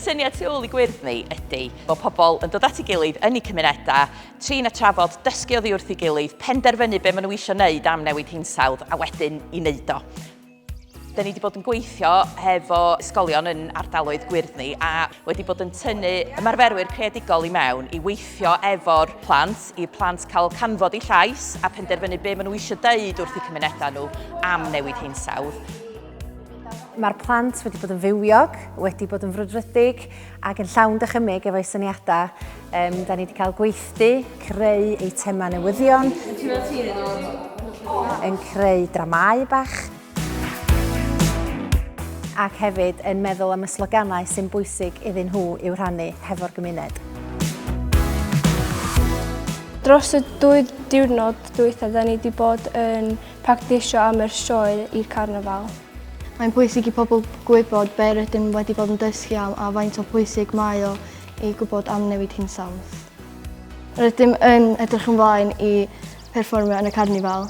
syniad tu ôl i gwyrdd ni ydy bod pobl yn dod at ei gilydd yn ei cymunedau, trin a trafod, dysgu oddi wrth ei gilydd, penderfynu be maen nhw eisiau wneud am newid hinsawdd a wedyn i wneud o. Da ni wedi bod yn gweithio hefo ysgolion yn ardaloedd gwyrdd ni a wedi bod yn tynnu ymarferwyr creadigol i mewn i weithio efo'r plant, i plant cael canfod eu llais a penderfynu be maen nhw eisiau dweud wrth eu cymunedau nhw am newid hinsawdd. Mae'r plant wedi bod yn fywiog, wedi bod yn frwdfrydig, ac yn llawn dychymyg efo'i syniadau. Um, da ni wedi cael gweithdy, creu eitemau newyddion, yn creu dramau bach, ac hefyd yn meddwl am y sloganau sy'n bwysig iddyn nhw i'w rhannu hefo'r gymuned. Dros y dwy diwrnod dwytha, da ni wedi bod yn practisio am yr sioe i'r carnafal. Mae'n bwysig i pobl gwybod be' rydym wedi bod yn dysgu am a faint o bwysig mae o i gwybod am newid hinsawdd. Rydym yn edrych ymlaen i perfformio yn y carnifal.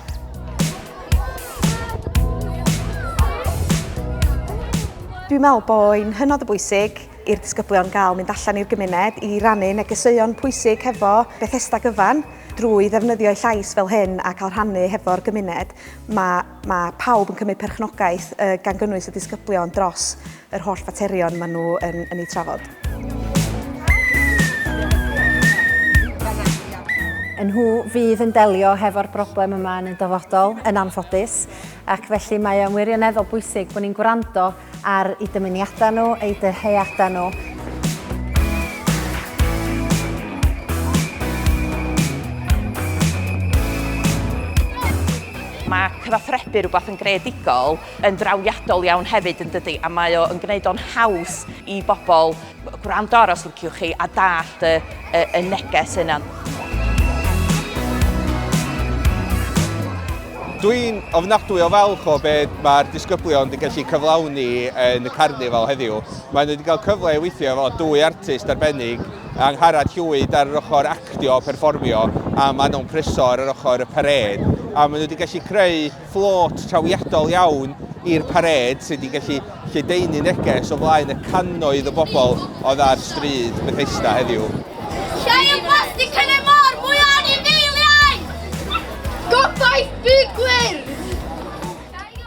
Dwi'n meddwl bo'n hynod o bwysig i'r disgyblion gael mynd allan i'r gymuned i rannu negeseuon pwysig hefo Bethesda gyfan. Drwy ddefnyddio'u llais fel hyn a cael rhannu hefo'r gymuned, mae Mae pawb yn cymryd perchnogaeth, gan gynnwys y disgyblion, dros yr holl faterion maen nhw yn, yn eu trafod. Nhw fydd yn delio hefo'r broblem yma yn y dyfodol, yn anffodus, ac felly mae o'n wirioneddol bwysig bod ni'n gwrando Ar eu dymuniadau nhw, eu dyheadau nhw. Mae cyfathrebu rhywbeth yn greadigol yn drawiadol iawn hefyd yn dydy a mae o yn gwneud o'n haws i bobl Gwrando ar os liciwch chi a dallt y, y, y neges yna. Dwi'n ofnadwy o falch o beth mae'r disgyblion wedi gallu cyflawni yn y carnifal heddiw. Maen nhw wedi cael cyfle i weithio efo dwy artist arbennig, Angharad Llwyd ar yr ochr actio, perfformio, a Manon Prysor ar yr ochr y pared. A maen nhw wedi gallu creu fflôt trawiadol iawn i'r parêd sydd wedi gallu lledaenu neges o flaen y cannoedd o bobl oedd ar stryd Bethesda heddiw. Lle yw plastig yn y môr mwy o anifeiliaid? Gobaith byd gwyrdd!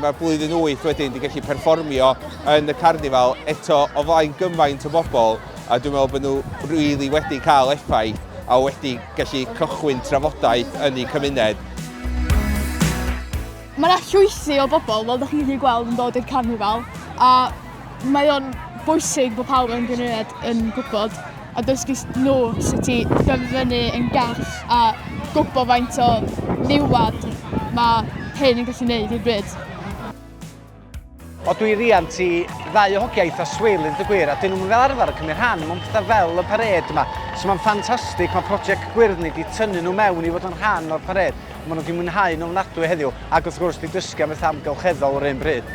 Mae blwyddyn wyth wedyn wedi gallu perfformio yn y carnifal eto o flaen gymaint o bobl. a dwi'n meddwl bod nhw really wedi cael effaith a wedi gallu cychwyn trafodaeth yn eu cymuned. Mae yna llwysi o bobl, fel ydych chi'n gallu gweld, yn dod i'r carnifal, a mae o'n bwysig bod pawb yn gymuned yn gwybod a dysgu nhw sut i dyfynu yn gall a gwybod faint o niwad mae hyn yn gallu gwneud i'r byd. O dwi riant i ddau o hogia eitha swil yn y gwir a dyn nhw'n fel arfer yn cymryd rhan mewn pethau fel y pared yma. So mae'n ffantastig, mae prosiect gwyrdd ni wedi tynnu nhw mewn i fod yn rhan o'r pared. Mae nhw wedi mwynhau nhw'n ofnadwy heddiw ac wrth gwrs wedi dysgu am bethau amgylcheddol yr un bryd.